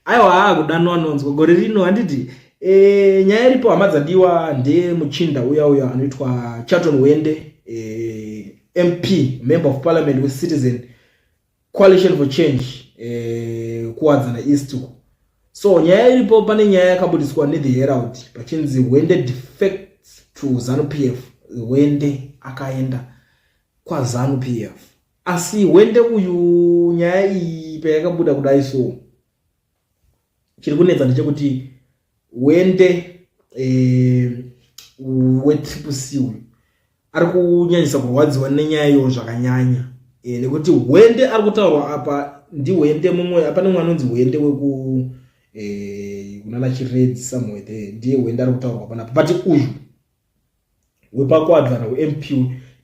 aiwa haa kudanwa nonzwa gore rino handiti e, nyaya iripo hama dzadiwa ndemuchinda uya uya anoitwa chaton wende e, eh, mp member of parliament wecitizen coalition for change e, eh, kuwadzana east uko so nyaya iripo pane nyaya yakabudiswa nethe herald pachinzi wende defect to zanu p f wende akaenda kwazanu p f Asi hwende uyu nyaya iyi payakabuda kudai so chiri kunetsa ndechekuti hwende eh, wetriple c uyu ari kunyanyisa kurwadziwa nenyaya iyo zvakanyanya eh, nekuti hwende ari kutaurwa apa ndihwende mumwe apane mwana unzi hwende weku eh, kunana chiredzi somewhere there ndiye hwende ari kutaurwa panapo but uyu wepakwadzana wemp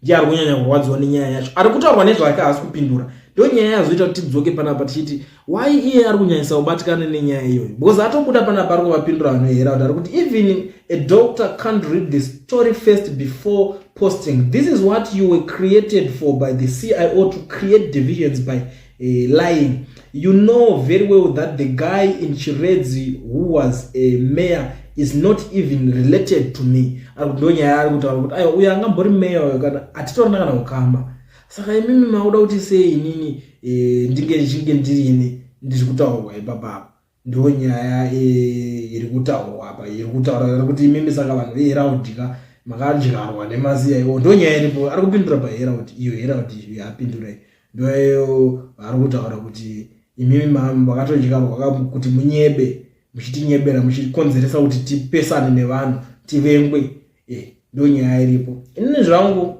ndiye ari kunyanya kurwadziwa nenyaya yacho ari kutaurwa nezvake haasi kupindura ndo nyaya yazoita kuti tidzoke panapa tichiti why iye ari kunyanyisa kubatikana nenyaya iyoyo because atobuda panapa ari kuvapindura vanohera kuti ari kuti even a doctor can't read the story first before posting this is what you were created for by the cio to create divisions by uh, lying you know very well that the guy in chiredzi who was a mayor is not even related to me ari kuti ndonyaya ari kutaura kuti aiwa uyo angambori mayor uyo kana hatitorina kana kukamba saka imimi makuda kuti sei inini e, ndinge ndichinge ndirini ndiri kutaurwa ipapapa ndo nyaya eh, iri kutaurwa apa iri kutaurwa kuti imimi saka vanhu veheraudika makadyarwa nemaziya iwo ndo nyaya iripo ari kupindura paheraud iyo heraud yapindura ndoyo ari kutaura kuti imimi makatodyarwa kuti munyebe muchitinyebera muchikonzeresa kuti tipesane nevanhu tivengwe eh, ndo nyaya iripo inini zvangu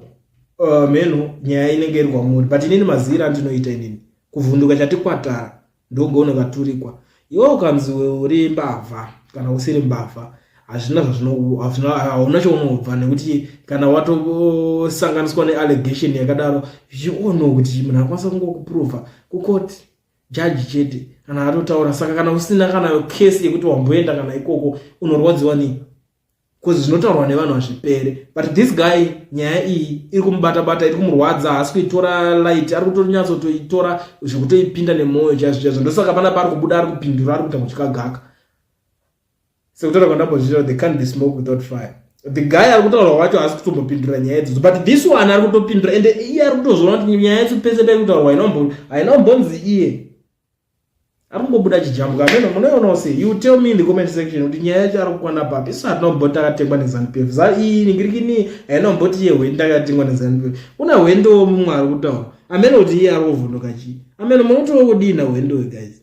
eh, mhenho nyaya inenge iri kwamuri but inini mazira andinoita inini kuvhunduka chatikwatara ndogono vaturikwa iwe ukanzi uri mbavha kana usiri mbavha hazvina zvazvinohauna chaunobva nekuti kana watosanganiswa neallegation yakadaro zviono kuti munhu akwanisa kungokuprova kukoti jaji chete kana atotaura saka kana usina kana case yekuti wamboenda kana ikoko unorwadziwa nei bcause zvinotaurwa nevanhu hazvipere but this guy nyaya iyi iri kumubata bata iri kumurwadza haasi kuitora light ari kutonyatsotoitora zvekutoipinda nemwoyo chaizvo chaizvo ndosaka pana paari kubuda ari kupindura ari kuita kuchikagaka sekutaura kwandambozviita they can't be smoke without fire the guy ari kutaurwa wacho haasi kutombopindura nyaya idzodzo but this one ari kutopindura ende iye ari kutozvona kuti nyaya yacho pese pairi kutaurwa haina umbonzi iye akungobuda chijambuka ameno munoionawo sei you tell me in the comment section kuti nyaya yacho ari kukwana papi isu hatinomboti takatengwa nezanup f za iyi ningirikini hainomboti ye hwendi takatengwa nezanup f una hwendo womumwe ari kutaura ameno kuti iye ari kuvhunduka chii ameno munotiwo kudii nahwendo we guys